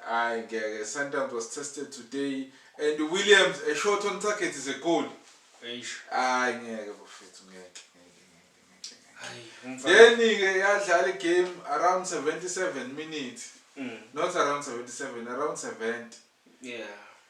Ay ngeke Sundowns was tested today and Williams a shot on target is a goal. Eish. Ay ngeke bafethu ngeke ngeke ngeke ngeke ngeke. Yeni ke yadlala igame around 77 minutes. Mm. Not around 77 around 70. Yeah.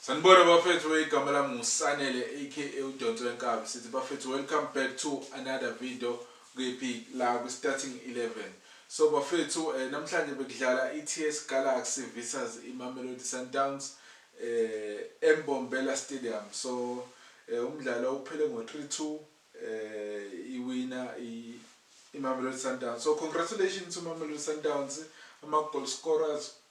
Sanibona bafethu igama lami nguSanele aka udonso wenkabi sithi bafethu welcome back to another video kephi la kwi starting 11 so bafethu eh, namhlanje bekudlala iTS Galaxy versus iMamelodi Sundowns eh eMbombela Stadium so eh, umdlalo uphele ngo 3-2 eh iwina iMamelodi Sundowns so congratulations uMamelodi Sundowns ama goal scorers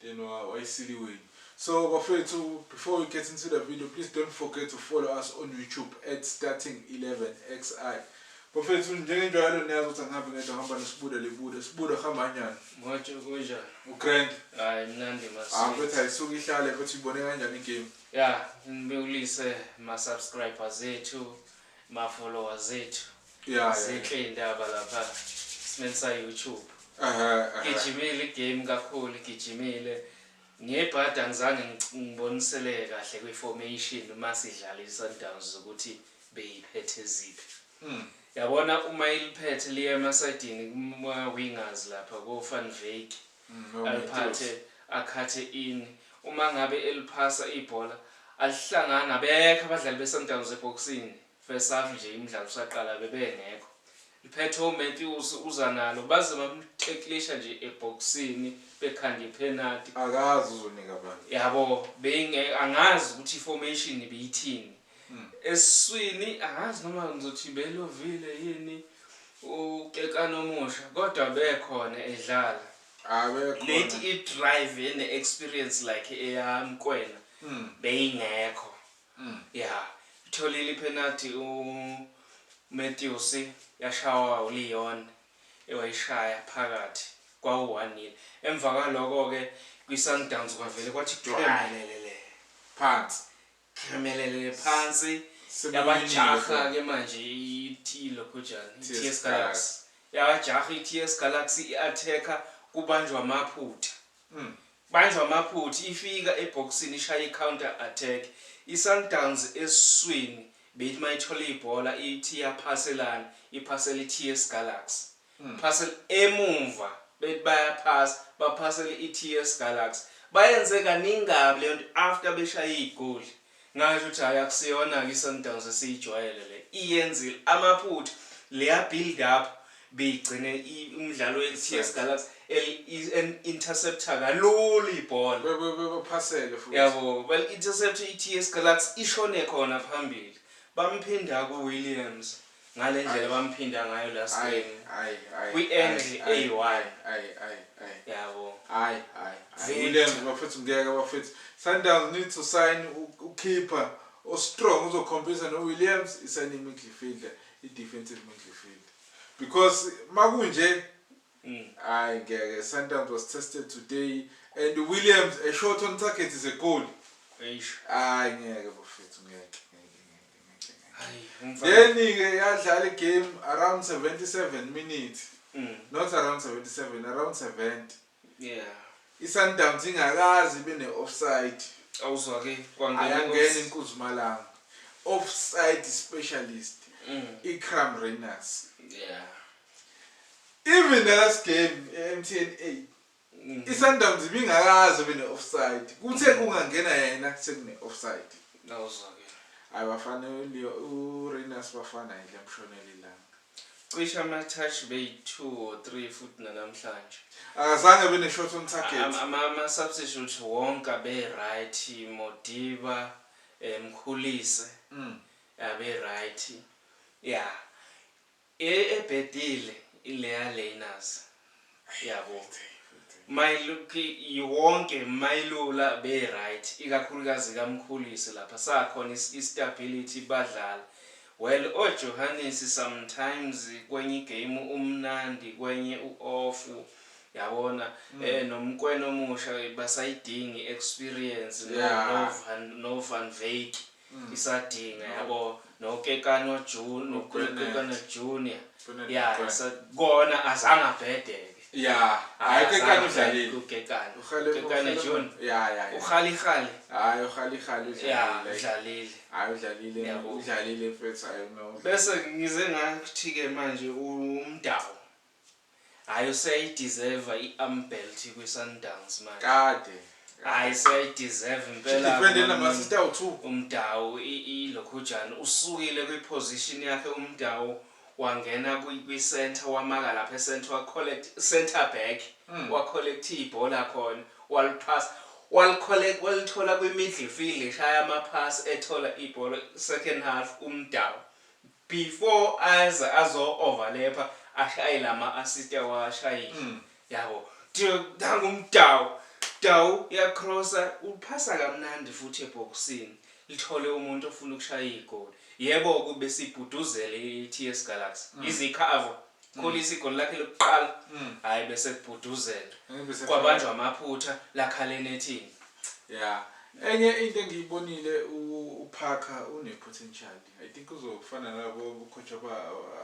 then wayisili wenu so bafethu before we get into the video please don't forget to follow us on youtube at starting 11 xi bafethu njengenjwayelo niyazi ukuthi angihambi ngedwa ngihamba nesibude libude sibude hamba nyana manje kunjani ugrand hayi mnandi masi ah mfethu ayisuke ihlale futhi ibone kanjani igame ya ngibekulise ma subscribers ethu Ma follower zethu Yeah, yeah. zinhle indaba lapha simeni sa YouTube. Ehhe, ehhe. Gijimile igame kakhulu gijimile. Ngebhadi angizange ngic- ngiboniseleke kahle kwi formation uma sidlala iSundowns ukuthi beyiphethe ziphi. Hmm. Yabona uma iliphethe liya emasidini kuma wingers lapha ko Van Wyk aliphathe akhathe ini uma ngabe eliphasa ibhola alihlangani abekho abadlali beSundowns ebhokisini first half nje imidlalo usaqala bebengekho liphethe uMatthews uza nalo baze bamtheklisha nje ebhokisini bekhanda iphenalty akazi uzonika bani yabo beyinge angazi ukuthi formation beyithini mm. eswini angazi noma ngizothi belovile yini ukekana omusha kodwa bekhona edlala late i-drive ene-experience like eyami kwena mm. beyingekho mm. ya itholile iphenathi umatthewsi yashawa uleon ewayishaya phakathi kwawu-one emva kwaloko-ke kwi-sundowns kwavele kwathi dwamelelele phansi Hlemelele phansi yabajaha ke manje ithi lokhojana iTS Galaxy yabajaha iTS Galaxy iattacker kubanjwa amaphutha mm. banjwa amaphutha ifika ebhokisini ishaya icounter attack iSundowns esiswini beyithi mayithola ibhola ithi yaphaselana iphasela iTS Galaxy Parcel emumva bethi bayaphasa baphasele iTS Galax bayenze kaningi kabi leyonto after beshaye iyigoli ngasho ukuthi hhayi akusiyonake iSundowns esiyijwayele le iyenzile amaphutha leya build up beyigcine umdlalo weTS Galax intercepter kalula ibhola bebaphasele futhi yabo bali intercepter iTS Galax ishone khona phambili bamphinda kuWilliams ngale ndlela bamphinda ngayo last Ayi, game ayi, ayi, kwi-angle ayi, eyi-one ayi, ayi, ayi, ayi. yabo Hayi, hayi, hayi. Vele. Williams bafethu ngeke bafethu. Sundowns need to sign u- ukeeper ostrong uzokhompisa noWilliams isayine imidfielder, i-defensive midfielder. Because makunje Ay ngeke Sundowns was tested today and Williams a shot on target is a goal. Eish. Ay ngeke bafethu ngeke. Yeni ke yadlala igame around 77 minutes. Mm. Not around 77, around 70. Yeah. ISundowns ingakazi ibe ne-offside. Awuzwa ke kwangena ayangena inkuzumalanga. Offside specialist. Mm. ICram Rainers. Yeah. Even the last game eMTN 8 Mhm. iSundowns ibingakaze ibe ne-offside kuthe Mhm. kungangena yena sekune-offside Nawuzwakele. hayi bafana uLeo- uRayners bafana yile mshonela ilanga Cishe ama-touch beyi-two or three futhi nanamhlanje. akazange abe ne-shot on target Ama- ama- Ama-substitute wonke abe-right, Modiba, eh, Mkhulise, Mm. abe-right. Ya. E ebhedile ileya learners yabo mayiluphi wonke mayilula be right ikakhulukazi ka Mkhulisi lapha sakhona is i stability badlala well o Johanisi sometimes kwenyi game umnandi kwenye u off yabona e no Mkwena omusha basayidingi experience no no van no van Veek isadinga yabo nokekano june nokekano junior ya kona azange abhedeke ya hayi kekano udlalile ukekano ukekano june ya ya ukhali khali hayi ukhali khali udlalile udlalile hayi udlalile udlalile mfethu hayi no bese ngize ngathi ke manje umdawu Hhayi useyayi deserve i arm belt kwi Sundowns manje. Kade. Hhayi seyayi deserve impela uMudau ilokhujana usukile kwi position yakhe uMudau wangena kwi centre wamaka lapha e centre wa collect centre back wa collect ibhola khona waliphasa wali collect walithola kwi midlifield eshaya ama pass ethola ibhola second half uMudau Before aze azo overlapper ashaye lama assist awashayile yabo nangu uMudau, Mudau uya crossa uphasa kamnandi futhi ebhokisini lithole umuntu ofuna ukushaya igoli. Yebo ke ubesibhuduzele iTS Galaxy yize ikhava Kolisi igoli lakhe lokuqala hhayi besekubhuduzela kwabanjwa amaphutha lakhala enethini. Ya enye into engiyibonile uParker une potential I think uzofana nalabo coach aba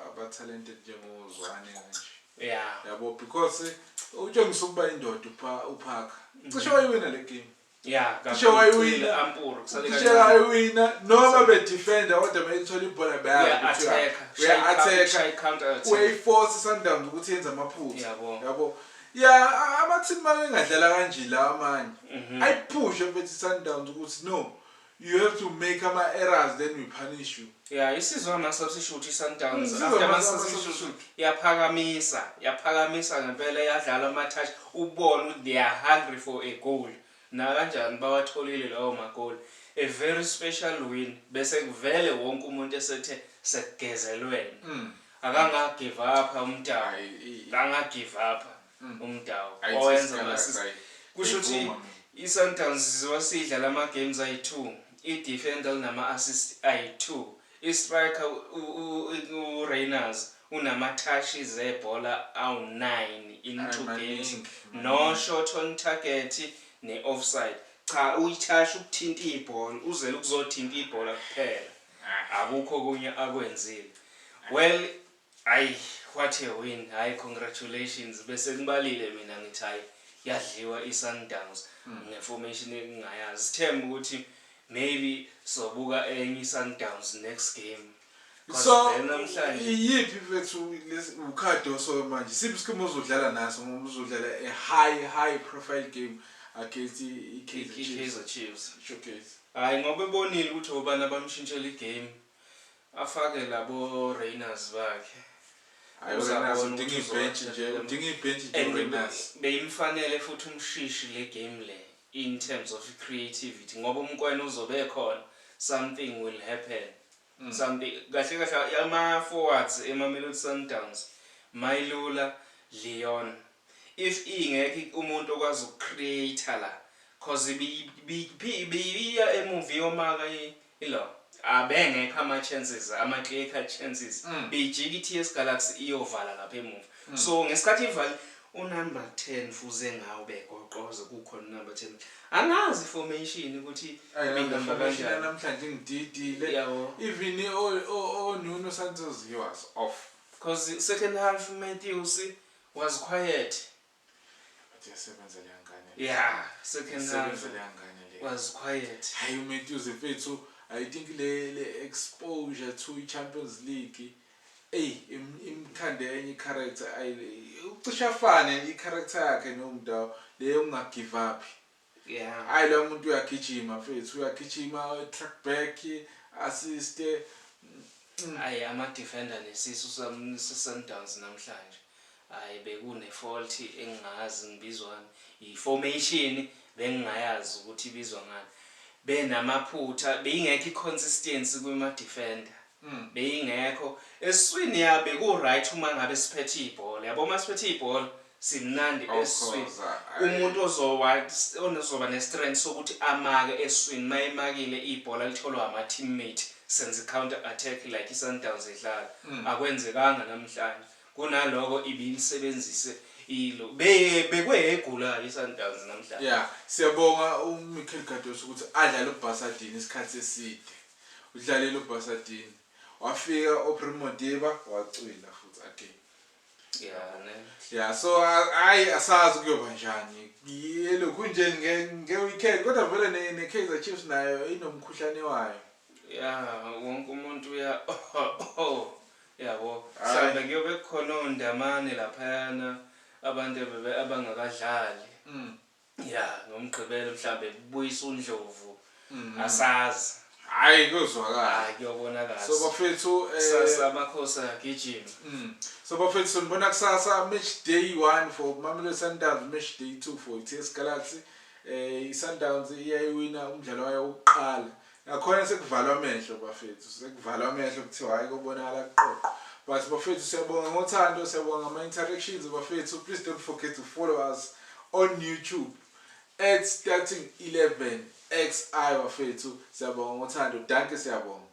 aba talented njengo Zwane kanje. Yeah. Yabo because utshengisa ukuba indoda upha uphaka. Mm-hmm. Cishe wayiwina le game. Yeah, cishe wayiwina ampuru kusale kanje. Cishe wayiwina noma be defender kodwa mayithola ibhola bayazi. Yeah, attack. Yeah, attack. Shy counter attack. Way force Sundowns ukuthi yenza amaphutha. Yabo. Yabo. Yeah, ama team makengadlala kanje la amanye. Mm-hmm. Ayiphushe mfethu Sundowns ukuthi no. You have to make ama errors then we punish you. Yeah isizwe ama substitute i Sundowns mm, after ama substitute yaphakamisa yaphakamisa ngempela yadlala ama touch ubona ukuthi they are hungry for a goal nakanjani bawatholile lawo magoli a very special win bese kuvele wonke umuntu esethe sekugezelwene mm. akangagive up umntana akangagive up mm. uMudau owenza ama-assist. Kusho ukuthi iSundowns izoba siyidlala ama-games ayi-two, i-defender linama-assist ayi-two, i-striker uRayners unama-touch zebhola awu-nine in two games no-shot on target ne-offside. Cha uyithashi ukuthinta ibhola uzele ukuzothinta ibhola kuphela akukho okunye akwenzile well Ay what a win hay congratulations besengibalile mina ngithi hay yadliwa iSundowns nge formation engingayazi sithemba ukuthi maybe sobuka enye iSundowns next game so iyiphi mfethu uCardoso manje siphi isikhathi ozodlala naso ngoba uzodlala a high high profile game against iKaizer Chiefs showcase hayi ngoba ebonile ukuthi obani abamshintshela igame Afake labo Rayners bakhe. Ay uRayners udinga ibhentshi nje, udinga ibhentshi nje uRayners. Beyimfanele futhi uMshishi le game le in terms of creativity ngoba uMkwena uzobe ekhona something will happen. Something kahle kahle ama forwards eMamelodi Sundowns, Mailula, Leon. If ingekho umuntu okwazi uku create la cause ibiya emuva iyomaka i law abengekho ama chances ama clear cut chances beyijika i TS Galaxy iyovala lapha emuva so ngesikhathi ivalile u number 10 fuze ngawo begoqoze kukhona u number 10 angazi i formation ukuthi ibihamba kanjani namhlanje ingididile even o Nuno Santos he was off cause second half Matthews Was quiet. Athi yasebenza leya ngane. Yeah, second half. Yasebenza leya ngane leya. Was quiet. Hayi uMatthews mfethu, I think le le exposure to iChampions League eyi imkhande enye icharacter ayi ucisha afane icharacter yakhe noMudau le yokungagive up. Yeah. Hayi lo muntu uyagijima mfethu uyagijima track back assist. Hayi ama defender nesisu Sundowns namhlanje. Hayi bekune fault engingazi ngibizwani. I formation bengingayazi ukuthi ibizwa ngani. Benamaphutha beyingekho iconsistency kuma defender. beyingekho eswini ya beku right umangabe siphethe ibhola yabo uma siphethe ibhola simnandi eswini umuntu ozowa onozoba ne strength sokuthi amake eswini mayemakile ibhola litholwa ama teammate senze counter attack like i Sundowns idlala mm. akwenzekanga namhlanje kunaloko ibilisebenzise ilo be bekwegulayo iSundowns namhlanje yeah siyabonga uMichael Gadosi ukuthi adlale uBhasadini isikhathi eside Udlalile uBasadini. Wafika uPrim Modiba wacwila futhi again. Yeah, ne. Yeah, so hayi asazi kuyoba njani. Yelokhu nje nge nge weekend kodwa vele ne ne Kaizer Chiefs nayo inomkhuhlane wayo. Yeah, wonke umuntu uya oh. Yabo, mhlambe kuyobe khona ondamane laphayana abantu abangakadlali. Mm. Yeah ngomgqibelo mhlambe kubuyisa undlovu asazi. Hhayi kuyozwakala. Hhayi kuyobonakala. So bafethu Kusasa amakhosi ayagijima. So bafethu sonibona kusasa match day one for Mamelodi Sundowns match day two for iTS Galaxy. ISundowns iyayiwina umdlalo wayo wokuqala Nakhona sekuvalwa amehlo bafethu sekuvalwa amehlo kuthiwa hayi kobonakala kuqoqo but bafethu siyabonga ngothando siyabonga ngama interactions bafethu please don't forget to follow us on YouTube at starting 11 xi bafethu siyabonga ngothando danke siyabonga